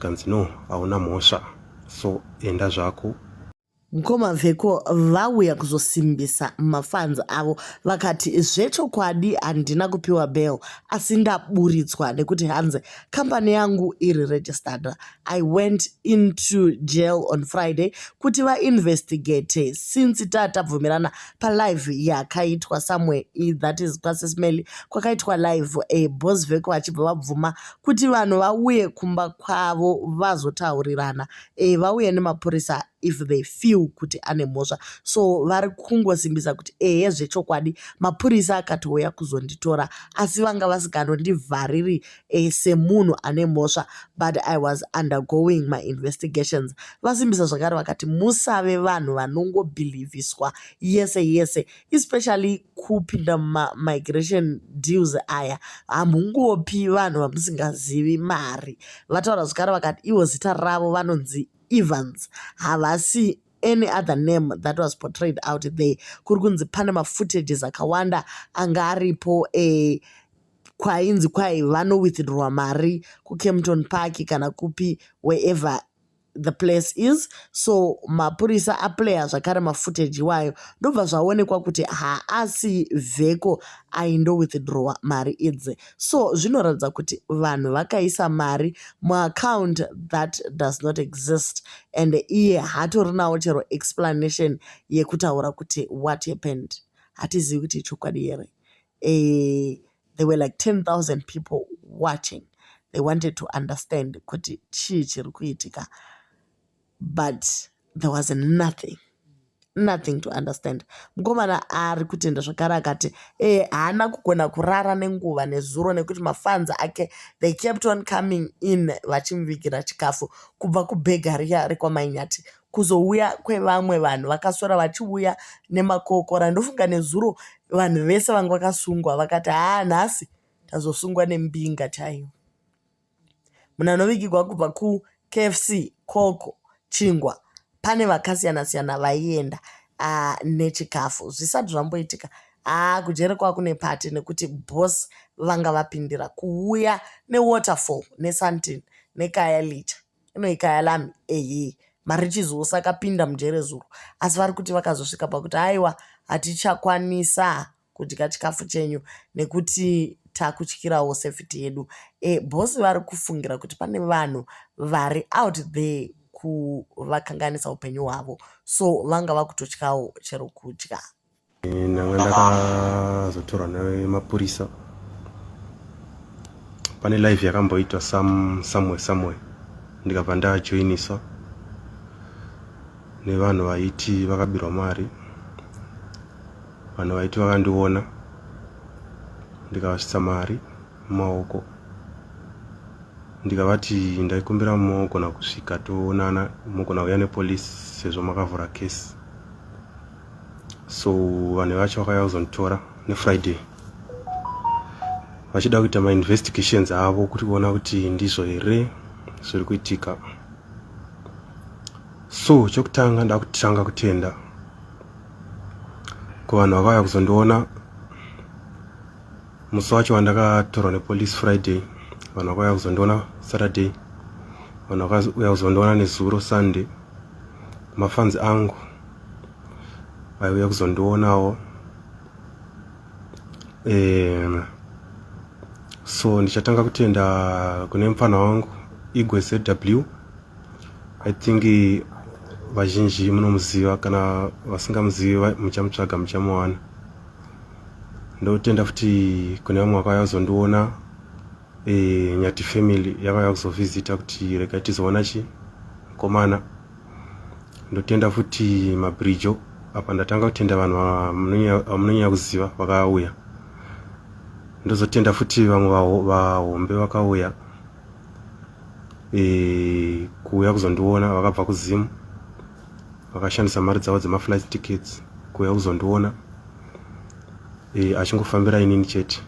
kanzi no hauna mhosva so enda zvako mkoma veko vauya kuzosimbisa mafanzi avo vakati zvechokwadi handina kupiwa bell asi ndaburitswa nekuti hanzi kambani yangu iri registered i went into jail on friday kuti vainvestigate since ta tabvumirana palive yakaitwa somewhere that is pasismely kwakaitwa live e eh, bos veko vachibva vabvuma kuti vanhu vauye kumba kwavo vazotaurirana vauye nemapurisa if they feel kuti ane mhosva so vari kungosimbisa kuti ehe zvechokwadi mapurisa akatouya kuzonditora asi vanga vasikanondivhariri eh, semunhu ane mhosva but i was undergoing my investigations vasimbisa zvakare vakati musave vanhu vanongobhilivhiswa yese yese especially kupinda mumamigration deals aya hamungopi vanhu vamusingazivi mari vataura zvekare vakati ivo zita ravo vanonzi evans havasi any other name that was portrayed out there kuri kunzi pane mafootages akawanda anga aripo e eh, kwainzi kwai vanowithdrowa mari kucampton park kana kupi wherever the place is so mapurisa aplayer zvakare mafootage iwayo ndobva zvaonekwa kuti haasi vheko aindowithdrawa mari idzi so zvinoratidza kuti vanhu vakaisa mari muaccount that does not exist and iye hatorinawo chero explanation yekutaura kuti what happened hatizivi kuti ichokwadi here eeh there were like 10,000 people watching they wanted to understand kuti chii chiri kuitika but there was nothing nothing to understand mukomana ari kutenda zvakare akati ee eh, haana kugona kurara nenguva nezuro nekuti mafanzi ake they kept on coming in vachimuvigira chikafu kubva kubhega riya rekwamainyati kuzouya kwevamwe vanhu vakaswera vachiuya nemakokora ndofunga nezuro vanhu vese vanga vakasungwa vakati haa nhasi tazosungwa nembinga chaiyo. Munhu anovigirwa kubva kuKFC, Koko, Chingwa pane vakasiyana siyana vaienda ah, nechikafu zvisati zvamboitika haa kujere kwava kune pati nekuti boss vanga vapindira kuuya newaterfall nesuntin nekaya licha inoikaya lami ehe marichizo osakapinda mujere zuro asi vari kuti vakazosvika pakuti haiwa hatichakwanisa kudya chikafu chenyu nekuti takutyirawo safety yedu e, boss vari kufungira kuti pane vanhu vari out there kuvakanganisa upenyu hwavo so vanga vakutotyawo chero kudya ndanga ndakazotorwa nemapurisa pane live yakamboitwa some somewhere somewhere ndikabva ndajoiniswa nevanhu vaiti vakabirwa mari vanhu vaiti vakandiona ndikavasvitsa mari mumaoko ndikavati ndaikumbira mogona kusvika toonana mogona kuya nepolisi sezvo makavhura kesi so vanhu vacho vakauya kuzonditora nefriday vachida kuita mainvestigations avo kuti kuona kuti ndizvo here zviri kuitika so chokutanga ndakutanga kutenda kuvanhu vakauya kuzondiona musi wacho wandakatorwa nepolice friday vanhu vakauya kuzondiona saturday vanhu vakauya kuzondiona nezuro sunday mafanzi angu vaiuya kuzondionawo um so ndichatanga kutenda kune mupfana wangu igwe zw i think vazhinji munomuziva kana vasingamuzivi muchamutsvaga muchamuwana ndotenda futi kune vamwe vakauya kuzondiona e, nyati family yakauya kuzovhizita kuti rega tizoona chi mukomana ndotenda futi mabrijo apa ndatanga kutenda vanhu vamunonyanya kuziva vakauya ndozotenda futi vamwe vahombe vakauya e, kuuya kuzondiona vakabva kuzimu vakashandisa mari dzavo dzemaflight tickets kuuya kuzondiona e, achingofambira inini chete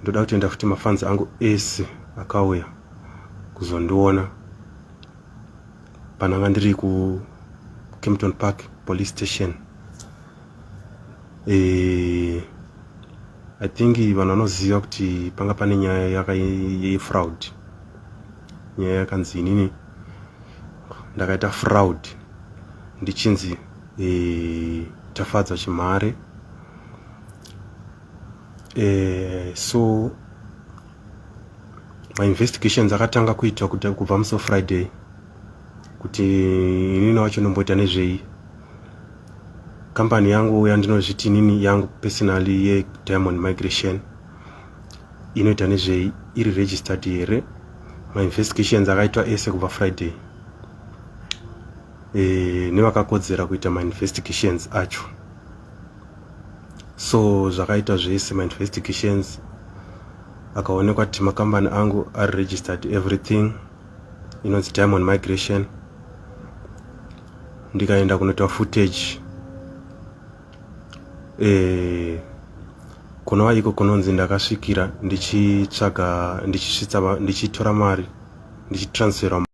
ndoda kutenda futi mafanzi angu ese akauya kuzondiona pananga ndiri ku Kempton Park police station eh I think vanhu vanoziva kuti panga pane nyaya yaka fraud nyaya yakanzi inini ndakaita fraud ndichinzi eh tafadzwa chimhare eh, so mainvestigations akatanga kuitwa kubva muso friday kuti inini wacho nomboita nezvei kambani yangu yandinozviti inini yangu personally yediamond migration inoita nezvei iri registered here mainvestigations akaitwa ese kubva friday e, nevakakodzera kuita mainvestigations acho so zvakaita zvese mainvestigations akaonekwa kuti makambani angu ari registered everything inonzi diamond migration ndikaenda kunoita footage eh, kunova iko kunonzi ndakasvikira ndichitsvaga ndichitora mari ndichitransfera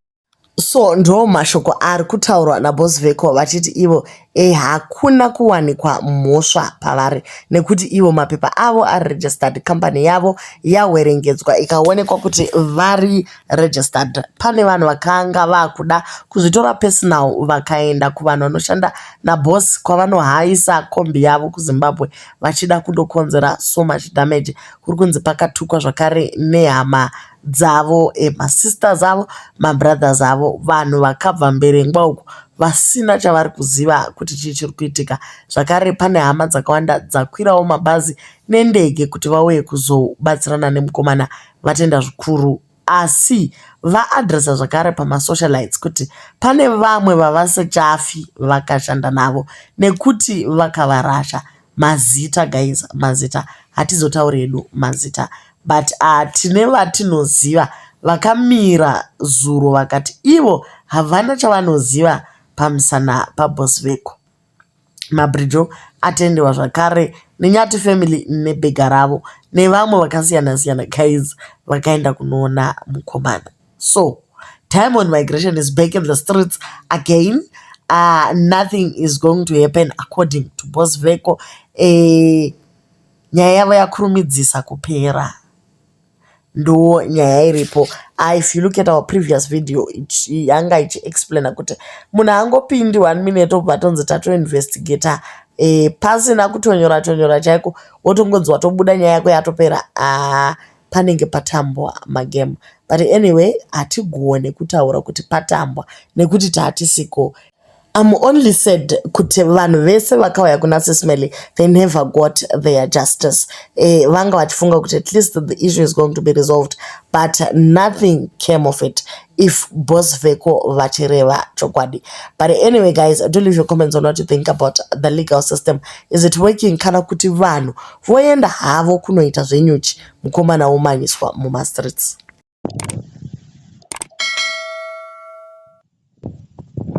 So ndo mashoko ari kutaurwa naBoss Vecco vachiti ivo e hakuna kuwanikwa mhosva pavari nekuti ivo mapepa avo ari registered company yavo yawerengedzwa ikaonekwa kuti vari registered. Pane vanhu vakanga vakuda kuzvitora personal vakaenda kuvanhu vanoshanda naBoss kwavanohayisa kombi yavo kuZimbabwe vachida kundokonzera so much damage. Kuri kunzi pakatukwa zvakare nehama. dzavo e ma sisters avo ma brothers avo vanhu vakabva mberengwa uko vasina chavari kuziva kuti chii chiri kuitika zvakare pane hama dzakawanda dzakwirawo mabhazi ne ndege kuti vauye kuzobatsirana ne mukomana Vatenda zvikuru asi va adresser zvakare pama socialites kuti pane vamwe vavasingachafi vakashanda navo nekuti vakavarasha Mazita guys mazita hatizotauri hedu mazita but tine vatinoziva vakamira zuro vakati ivo havana chavanoziva pamusana paboss veko. Mabhirijo atendewa zvakare neNyati family nebhega ravo nevamwe vakasiyana siyana guys vakaenda kunoona mukomana. so time on migration is back in the streets again aah nothing is going to happen according to boss veko nyaya yavo yakurumidzisa kupera ndoo nyaya iripo ah, if you look at our previous video yanga ichiexplaina kuti munhu angopindi one minute obva tonzi tatoinvestigata e, eh, pasina kutonyora tonyora chaiko wotongonzi watobuda nyaya yako yatopera ah, panenge patambwa magemu but anyway hatigone kutaura kuti patambwa nekuti tatisiko. I'm only sad kuti vanhu vese vakauya kuna Sismeli they never got their justice. Eh, vanga vachifunga kuti at least the issue is going to be resolved but nothing came of it if boss veko vachireva chokwadi. But anyway guys, do leave your comments on what you think about the legal system. Is it working kana kuti vanhu Voenda havo kunoita zvenyuchi mukomana womanyiswa mumastreets.